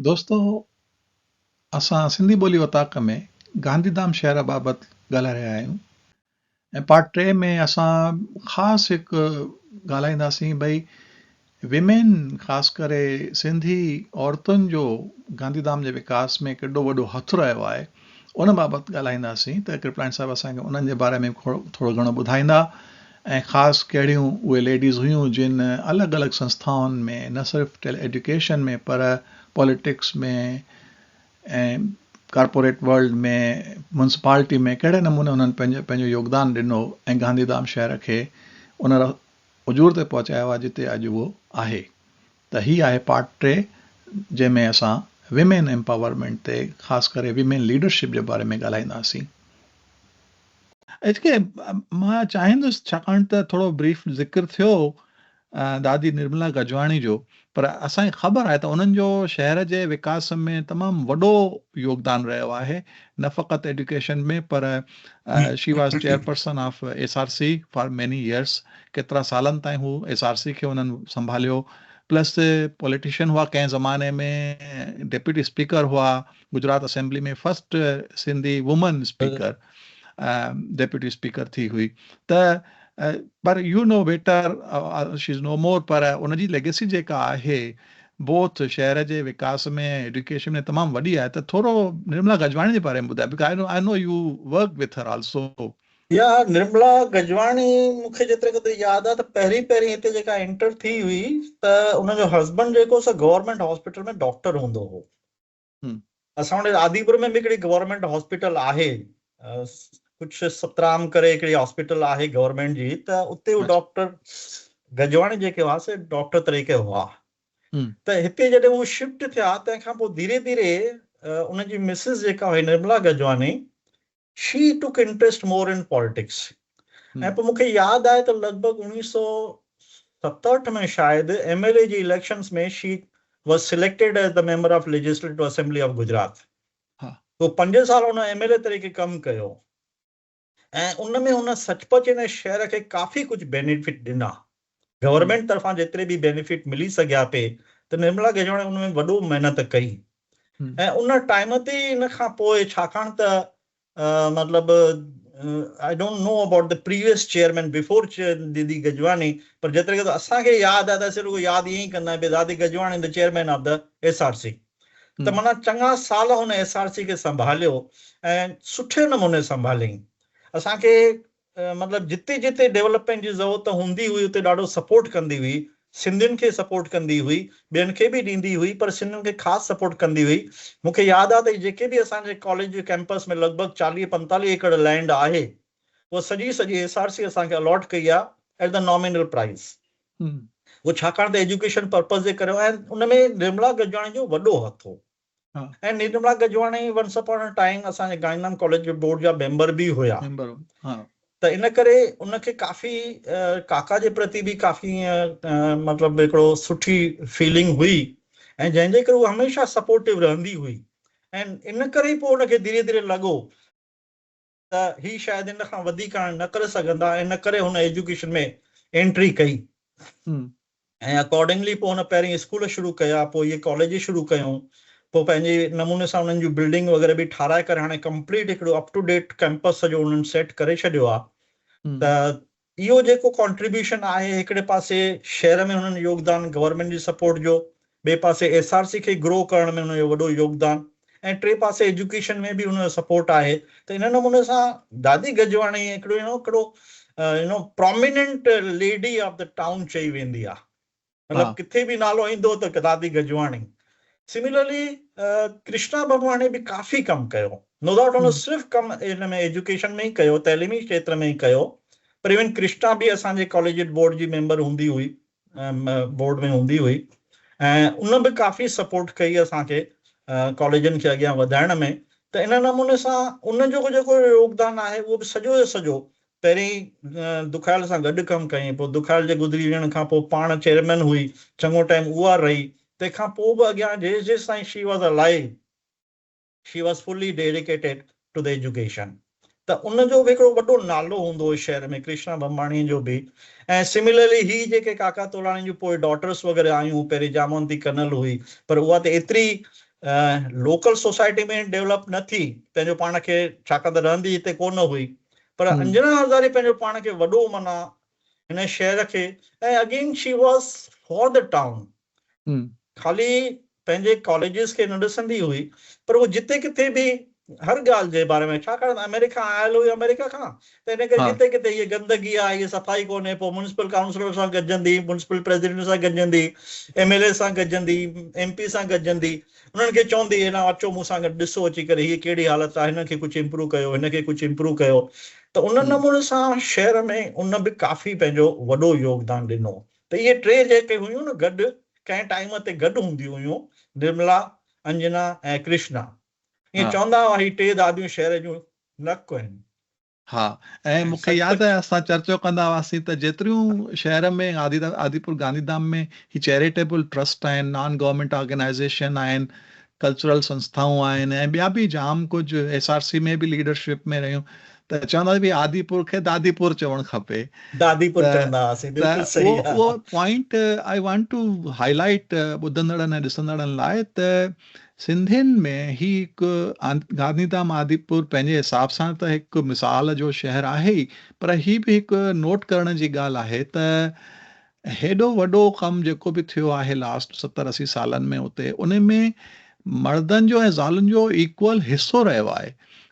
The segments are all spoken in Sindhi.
دوستو اسان سنڌي ٻولي اوطاق ۾ گانڌي ڌام شهر بابت ڳالهائي رهيا آهيون ۽ پارٽ ٽي ۾ اسان خاص هڪ ڳالهائينداسين ڀئي ويمين خاص ڪري سنڌي عورتن جو گانڌي ڌام جي وڪاس ۾ ڪيڏو وڏو هٿ رهيو آهي ان بابت ڳالهائينداسين ته ڪرپلائن صاحب اسانکي انهن جي باري ۾ ٿورو گهڻو ٻڌائيندا ۽ خاص ڪهڙيون اهي ليڊيز هيون جن الڳ الڳ سنسٿائن ۾ نه صرف ٽيلي ايڊيوڪيشن ۾ پر پاليٽڪس ۾ ۽ ڪارپوريٽ ورلڊ ۾ ميونسپالٽي ۾ ڪهڙي نموني انهن پنهنجو پنهنجو يوگدان ڏنو ۽ گانڌيڌام شهر کي ان اجور تي پهچايو آهي جتي اڄ اهو آهي. ته هي آهي پارٽ ٽي جنهن ۾ اسان ويمين ايمپاورمينٽ تي خاص ڪري ويمين ليڊرشپ جي باري ۾ ڳالهائينداسين. اچ ڪي مان چاهيندس ڇاڪاڻ ته ٿورو بريف ذڪر ٿيو دادي نرملا گجواڻي جو پر اسان کي خبر آهي ته انهن جو شهر جي وڪاس ۾ تمام وڏو يوگدان رهيو آهي نه فقط ايڊيوڪيشن ۾ پر she was chairperson of S R C for many years ڪيترا سالن تائين هو ايس آر سي کي انهن سنڀاليو پلس پوليٽيشن هئا ڪنهن زماني ۾ ڊيپيوٽي اسپيڪر هئا Gujarat assembly ۾ first Sindhi women speaker deputy speaker ٿي هئي ته پر you know whether she is no more پر ان جي ليگيسي جيڪا آهي بوٿ شهر جي وڪاس ۾ ۽ ايڊيوڪيشن ۾ تمام وڏي آهي ته ٿورو نرملا گجواڻي جي باري ۾ ٻڌاء because I know I know you work with her also. يا نرملا گجواڻي مون کي جيتري قدر ياد آهي ته پهرين پهرين هتي جيڪا انٽر ٿي هئي ته ان جو هسبنڊ جيڪو سا گورنمينٽ هاسپيٽل ۾ ڊاڪٽر هوندو هو اسان وٽ آديپور ۾ به هڪڙي گورنمينٽ هاسپيٽل آهي ڪجهه سترام ڪري هڪڙي هاسپيٽل آهي گورنمينٽ جي ته اتي هو ڊاڪٽر گجواڻي جيڪي هئا سي ڊاڪٽر طريقي هئا ته هتي جڏهن هو شفٽ ٿيا تنهن کان پوء ڌيري ڌيري ان جي مسز جيڪا هئي Nirmala Gajwani she took interest more in politics ۽ پوء مون کي ياد آهي ته لڳ ڀڳ اوڻيهه سؤ ستهٺ ۾ شايد ايم ايل اي جي elections ۾ she was selected as the member of legislative assembly of Gujarat پوء پنج سال هن ايم ايل اي طريقي ڪم ڪيو ۽ ان ۾ هن سچ پچ هن شهر کي ڪافي ڪجهه بينيفٽ ڏنا گورنمينٽ طرفان جيتري به بينيفٽ ملي سگهيا پي ته نرملا گجراڻي ان ۾ وڏو محنت ڪئي ۽ ان ٽائيم تي ان کان پوء ڇاڪاڻ ته مطلب I don't know about the previous chairman before ديدي گجواڻي پر جيتري ڪيترو اسان کي ياد آهي ته اسين رڳو ياد ائين ئي ڪندا آهيون ڀي دادي Gajwani the chairman of the S R C ته معنيٰ چڱا سال هن ايس آر سي کي سنڀاليو ۽ سٺي نموني سنڀاليائين اسان کي مطلب جتي جتي ڊيولپمينٽ جي ضرورت هوندي هئي اتي ڏاڍو سپورٽ ڪندي هئي سنڌين کي سپورٽ ڪندي هئي ٻين کي به ڏيندي هئي پر سنڌين کي خاص سپورٽ ڪندي هئي مون کي ياد آهي ته جيڪي به اسان جي ڪاليج جي ڪيمپس ۾ لڳ ڀڳ چاليهه پنتاليهه ايڪڙ لينڊ آهي اها سڄي سڄي ايس آر سي اسان کي الاٽ ڪئي آهي ائٽ دي نامينل پرائز اهو ڇاڪاڻ ته ايجوڪيشن پرپز جي ڪري هو ۽ ان ۾ نرملا گجراڻي جو وڏو هٿ هو. ۽ Nirmala Gajwani once upon a time اسان جي گاندهي ڌام ڪاليج جي بورڊ جا ميمبر به هيا ته ان ڪري ان کي ڪافي ڪاڪا جي پرتي به ڪافي مطلب هڪڙو سٺي فيلنگ هئي ۽ جنهن جي ڪري هو هميشه سپورٽو رهندي هئي ۽ ان ڪري پوء ان کي ڌيري ڌيري لڳو ته هي شايد ان کان وڌيڪ هاڻي نه ڪري سگهندا ۽ ان ڪري هن ايجوڪيشن ۾ انٽري ڪئي ۽ اڪارڊنگلي پوء هن پهرين اسڪول شروع ڪيا پوء هيء ڪاليج شروع ڪيون پوء پنهنجي نموني سان انهن جون بلڊنگ وغيره به ٺاهرائي ڪري هاڻي ڪمپليٽ هڪڙو اپ ٽو ڊيٽ ڪئمپس سڄو انهن سيٽ ڪري ڇڏيو آهي ته اهو جيڪو ڪانٽريبيوشن آهي هڪڙي پاسي شهر ۾ هنن يوگدان گورنمينٽ جي سپورٽ جو ٻئي پاسي ايس آر سي کي گرو ڪرڻ ۾ هن جو وڏو يوگدان ۽ ٽي پاسي ايجوڪيشن ۾ به هن جو سپورٽ آهي ته ان نموني سان دادي گجواڻي هڪڙو يو نو هڪڙو you know prominent lady of the town چئي ويندي آهي. مطلب ڪٿي به نالو ايندو ته دادي گجواڻي سميلرلي ڪرشنا ڀڳواڻي به ڪافي ڪم ڪيو نو ڊائوٽ هن صرف ڪم ان ۾ ايجوڪيشن ۾ ئي ڪيو تعليمي کيتر ۾ ئي ڪيو پر ايون ڪرشنا به اسان جي ڪاليجيٽ بورڊ جي ميمبر هوندي هئي بورڊ ۾ هوندي هئي ۽ ان به ڪافي سپورٽ ڪئي اسان کي ڪاليجن کي اڳيان وڌائڻ ۾ ته ان نموني سان ان جو جيڪو يوگدان آهي اهو به سڄو جو سڄو پهرين دکايل سان گڏ ڪم ڪيائين، پوء دکايل جي گذري وڃڻ کان پوء پاڻ چيئرمين هئي، چڱو ٽائيم اها رهي، تنهن کان پوء به اڳيان جيس جيس تائين she was alive, she was fully dedicated to the education, ته ان جو به هڪڙو وڏو نالو هوندو هو شهر ۾ ڪرشنا ڀنڀاڻيء جو به، ۽ سميلرلي هي جيڪي ڪاڪا تولاڻي جون پوء ڊاٽرس وغيره آيون، پهرين جامونتي ڪنل هئي، پر اها ته ايتري لوڪل سوسائٽي ۾ ڊيولپ نه ٿي، پنهنجو پاڻ کي، ڇاڪاڻ ته رهندي هتي ڪونه هئي، پر انجنا هزاري پنهنجو پاڻ کي وڏو منا هن شهر کي ۽ again she was for the town خالي پنهنجي ڪاليجز کي نه ڏسندي هئي پر هو جتي ڪٿي به هر ڳالهه جي باري ۾ ڇا ڪرڻ آمريڪا کان آيل هئي آمريڪا کان ته ان ڪري جتي ڪٿي هي گندگي آهي هي صفائي ڪونهي پوء مونسپل ڪائونسلر سان گڏجندي مونسپل پريزيڊنٽ سان گڏجندي ايم ايل اي سان گڏجندي ايم پي سان گڏجندي انهن کي چوندي ايڏانهن اچو مون سان گڏ ڏسو اچي ڪري هيء ڪهڙي حالت آهي هن کي ڪجهه امپروو ڪيو هن کي ڪجهه امپروو ڪيو ته ان نموني سان شهر ۾ ان به ڪافي پنهنجو وڏو يوگدان ڏنو ته اهي ٽي جيڪي هيون نه گڏ ڪنهن ٽائيم تي گڏ هونديون هيون نرملا، انجنا ۽ ڪرشنا ائين چوندا هئا هي ٽي داديون شهر جون نڪ آهن. ها ۽ مون کي ياد آهي اسان چرچو ڪندا هئاسين ته جيتريون شهر ۾ آديپور گانڌي ڌام ۾ هي چيريٽيبل ٽرسٽ آهن نان گورمينٽ آرگنائيزيشن آهن ڪلچرل سنسٿائون آهن ۽ ٻيا به جام ڪجهه ايس آر سي ۾ به ليڊرشپ ۾ رهيون ته چوندا هئا ڀي آديپور کي داديپور چوڻ کپي داديپور چوندا هئاسين بلڪل صحيح اهو point I want to highlight ٻڌندڙن ۽ ڏسندڙن لاء ته سنڌين ۾ هي هڪ گانڌيڌام آديپور پنهنجي حساب سان ته هڪ مثال جو شهر آهي ئي پر هي به هڪ نوٽ ڪرڻ جي ڳالهه آهي ته هيڏو وڏو ڪم جيڪو به ٿيو آهي لاسٽ ستر اسي سالن ۾ اتي ان ۾ مردن جو ۽ زالن جو ايڪوئل حصو رهيو آهي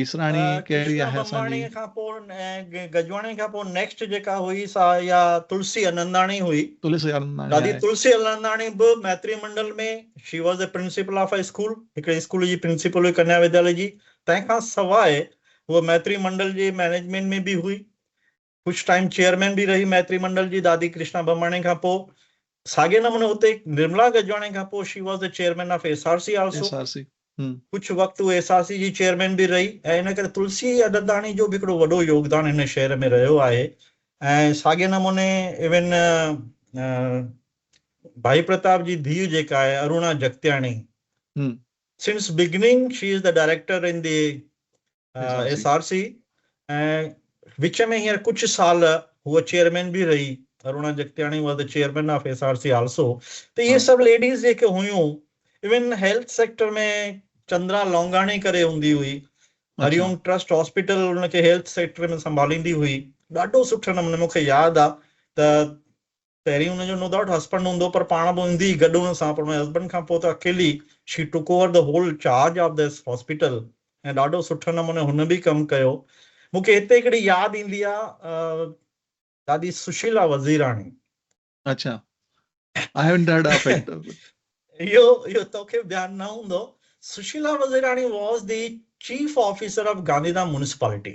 ايسراڻي ڪهڙي آهي اسان جي. ڪرشنا ٻنباڻي کان پوء ۽ گجواڻي کان پوء نيڪسٽ جيڪا هئي سا اها تلسي اننداڻي هئي. تلسي اننداڻي آهي. دادي تلسي اننداڻي به Maitri Mandal ۾ she was a principal of a school هڪڙي اسڪول جي پرنسپل هئي ڪنيا وديالي جي تنهن کان سواء هوء ميتري منڊل جي مئنيجمينٽ ۾ به هئي ڪجهه ٽائيم چيئرمين به رهي ميتري منڊل جي دادي ڪرشنا ڀماڻي کان پوء ساڳئي نموني اتي نرملا گجواڻي کان پوء she was the chairman of S R C also ڪجهه وقت هو ايس آر سي جي چيئرمين به رهي ۽ ان ڪري تلسي اڏنداڻي جو به هڪڙو وڏو يوگدان هن شهر ۾ رهيو آهي ۽ ساڳئي نموني ايون ڀائي پرتاب جي ڌيء جيڪا آهي Aruna Jagtiani since beginning she is the director in the S R C ۽ وچ ۾ هينئر ڪجهه سال هوء چيئرمين به رهي Aruna Jagtiani was the chairman of S R C also ته اهي سڀ ليڊيز جيڪي هيون even health sector ۾ Chandra Longani ڪري هوندي هئي هريوم ٽرسٽ هاسپيٽل ان کي هيلٿ سيڪٽر ۾ سنڀاليندي هئي ڏاڍو سٺو نموني مونکي ياد آ ته پهرين هن جو نو ڊائوٽ هسبنڊ هوندو پر پاڻ به هوندي ئي گڏ هن سان پر هن هسبنڊ کان پوء ته اڪيلي she took over the whole charge of this hospital ۽ ڏاڍو سٺي نموني هن به ڪم ڪيو مون کي هتي هڪڙي ياد ايندي آ دادي سشيلا وزيراڻي اڇا I haven't heard of it اهو اهو توکي به ڌيان نه هوندو Sushila Wazirani was the chief officer of Gandhidham municipality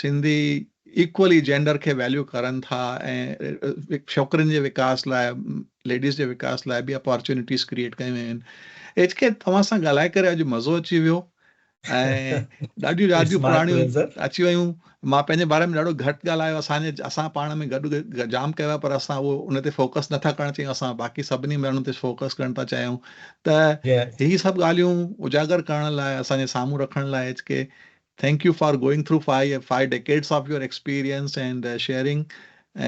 Sindhi equally gender کي ويليو ڪرن ٿا ۽ ڇوڪرين جي وڪاس لاء ليڊيز جي وڪاس لاء به اپارچونيٽيز ڪريئيٽ ڪيون ويون آهن ايڇ ڪي توهان سان ڳالهائي ڪري اڄ مزو اچي ويو ۽ ڏاڍيون ياديون پراڻيون اچي ويون مان پنهنجي باري ۾ ڏاڍو گهٽ ڳالهايو اسان جي اسان پاڻ ۾ گڏ جام ڪيو پر اسان اهو ان تي فوڪس نٿا ڪرڻ چاهيون اسان باقي سڀني ماڻهن تي فوڪس ڪرڻ ٿا چاهيون ته هي سڀ ڳالهيون اجاگر ڪرڻ لاء اسان جي سامهون رکڻ لاء H K Thank you for going through five five decades of your experience and sharing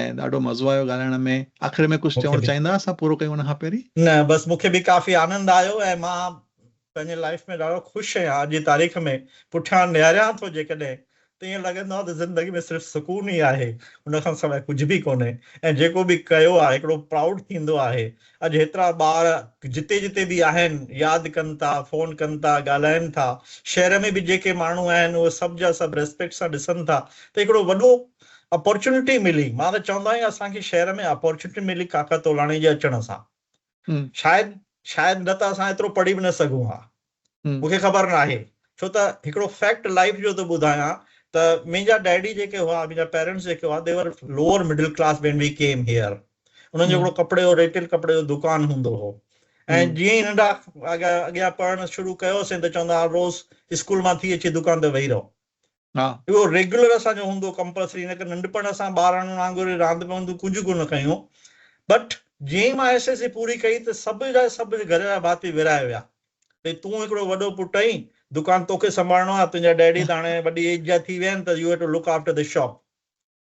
۽ ڏاڍو مزو آيو ڳالهائڻ ۾ آخر ۾ ڪجهه چوڻ چاهيندا اسان پورو ڪيون ان کان پهرين. نه بس مون کي به ڪافي آنند آيو ۽ مان پنهنجي لائيف ۾ ڏاڍو خوش آهيان اڄ جي تاريخ ۾ پٺيان نهاريان ٿو جيڪڏهن ته ائين لڳندو آهي ته زندگي ۾ صرف سڪون ئي آهي ان کان سواء ڪجهه به ڪونهي ۽ جيڪو به ڪيو آهي هڪڙو پرائوڊ ٿيندو آهي اڄ هيترا ٻار جتي جتي به آهن ياد ڪن ٿا فون ڪن ٿا ڳالهائن ٿا شهر ۾ به جيڪي ماڻهو آهن اهي سڀ جا سڀ ريسپيڪٽ سان ڏسن ٿا ته هڪڙو وڏو اپورچونٽي ملي مان ته چوندو آهيان اسان کي شهر ۾ اپورچونٽي ملي ڪاڪا تولاڻي جي اچڻ سان شايد شايد نه ته اسان ايترو پڙهي به نه سگهون ها مون کي خبر ناهي ڇو ته هڪڙو فيڪٽ لائيف جو ٿو ٻڌايان ته منهنجا ڊيڊي جيڪي هئا منهنجا پيرينٽس جيڪي هئا the were lower middle class when we came here انهن جو هڪڙو ڪپڙي جو ريٽيل ڪپڙي جو دڪان هوندو هو ۽ جيئن ئي ننڍا اڳيان پڙهڻ شروع ڪيوسين ته چوندا هئا روز اسڪول مان ٿي اچي دڪان تي ويهي رهو اهو ريگيولر اسان جو هوندو ڪمپلسري نه ڪه ننڍپڻ اسان ٻارڙن وانگر ئي راند ۾ هوندو ڪجهه ڪونه ڪيون بٽ جيئن ئي مان ايس ايس سي پوري ڪئي ته سڀ جا سڀ گهر جا ڀاتي ورهائي ويا ڀئي تون هڪڙو وڏو پٽ آهين دڪان توکي سنڀالڻو آهي تنهنجا ڊيڊي ته هاڻي وڏي ايج جا ٿي ويا آهن ته you have to look after the shop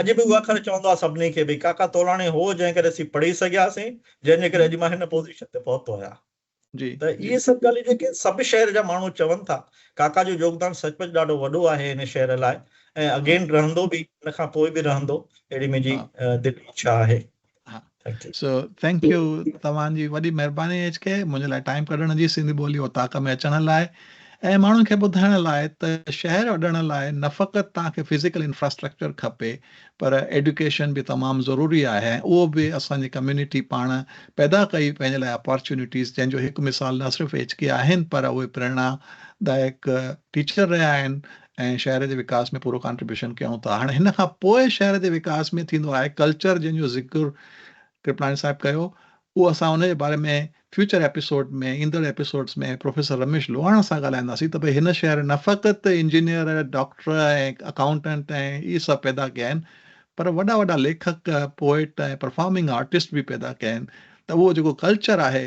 اڄ به اهو اکر چوندو آهي سڀني کي ڀئي ڪاڪا تولاڻي هو جنهن ڪري اسين پڙهي سگهياسين جنهن جي ڪري اڄ مان هن پوزيشن تي پهتو آهيان ته اهي سڀ ڳالهيون جيڪي سڀ شهر جا ماڻهو چون ٿا ڪاڪا جو يوگدان سچ پچ ڏاڍو وڏو آهي هن شهر لاء ۽ اڳين رهندو به هن کان پوء به رهندو اهڙي منهنجي دلي اڇا آهي. ها سو ٿينڪ يو توهان جي وڏي مهرباني ايڇ ڪي منهنجي لاء ٽائيم ڪڍڻ جي سنڌي ٻولي اوطاق ۾ اچڻ لاء ۽ ماڻهن کي ٻڌائڻ لاء ته شهر اڏڻ لاء نه فقط توهان کي فزيڪل انفراسٽرڪچر کپي پر ايڊوڪيشن به تمام ضروري آهي ۽ اهو به اسان جي ڪميونٽي پاڻ پيدا ڪئي پنهنجي لاء اپارچونيٽيز جنهن جو هڪ مثال نه صرف ايڇ ڪي آهن پر اهي پريرنا دائڪ ٽيچر رهيا آهن ۽ شهر جي وڪاس ۾ پورو ڪانٽريبيوشن ڪيون ٿا هاڻي هن کان پوء شهر جي وڪاس ۾ ٿيندو آهي ڪلچر جنهن جو ذڪر ڪرپلاڻي صاحب ڪيو اهو اسان ان جي باري ۾ فيوچر ايپيسوڊ ۾ ايندڙ ايپيسوڊز ۾ پروفيسر رميش لوهاڻا سان ڳالهائينداسين ته ڀئي هن شهر نه فقط انجنيئر ڊاڪٽر ۽ اڪائونٽنٽ ۽ اهي سڀ پيدا ڪيا آهن پر وڏا وڏا ليکڪ پوئٽ ۽ پرفارمنگ آرٽسٽ به پيدا ڪيا آهن ته اهو جيڪو ڪلچر آهي